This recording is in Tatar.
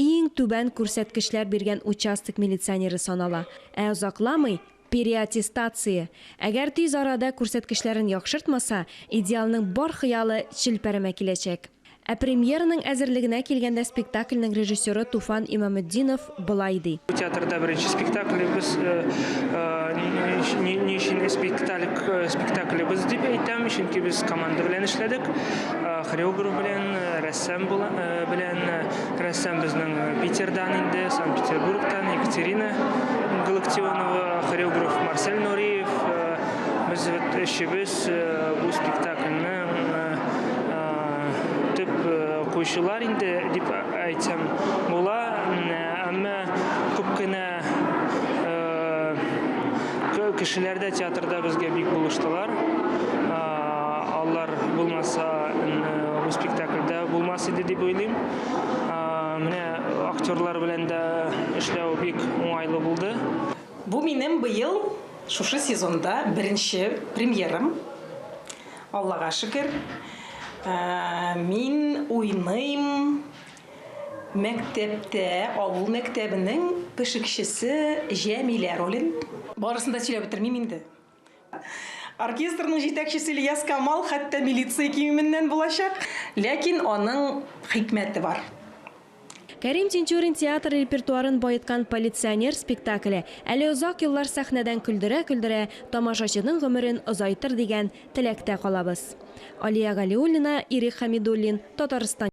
Иң түбән күрсәткечләр биргән участок милиционеры санала. Ә озакламый, переаттестация! Әгәр тиз арада күрсәткечләрен яхшыртмаса, Идеалның бар хыялы челпәрәмә киләчәк. Ә премьераның әзерлегенә килгәндә спектакльнең режиссеры Туфан Имаметдинов болай ди. Бу театрда беренче спектаклебез, ни өчен спектаклебез дип әйтәм, чөнки без команда белән эшләдек, хореограф белән. Сәм белән рәссам безнең Питердан инде, Санкт-Петербургтан Екатерина Галактионова, хореограф Марсель Нуриев. Без өчебез бу спектакльне төп куючылар инде дип әйтсәм була. Әмма күп кенә Э, кешеләр дә театрда безгә бик булыштылар. Э, алар булмаса, бу спектакльдә булмас иде дип уйлыйм. Э, менә актерлар белән дә эшләү бик уңайлы булды. Бу минем быел шушы сезонда беренче премьерам. Аллага шөкер. Мин уйныйм, Мәктәптә авыл мәктәбенең пешекчесе Җәмилә ролен. Барысын да сөйләп бетермим инде. Оркестрның җитәкчесе Ильяс Камал хәтта милиция киеменнән булачак. Ләкин аның хикмәте бар. Кәрим Тинчурин театр репертуарын баеткан Полиционер спектакле әле озак еллар сәхнәдән көлдерә-көлдерә тамашачының гомерен озайтыр дигән теләктә калабыз. Алия Галиуллина, Ирек Хәмидуллин, Татарстан.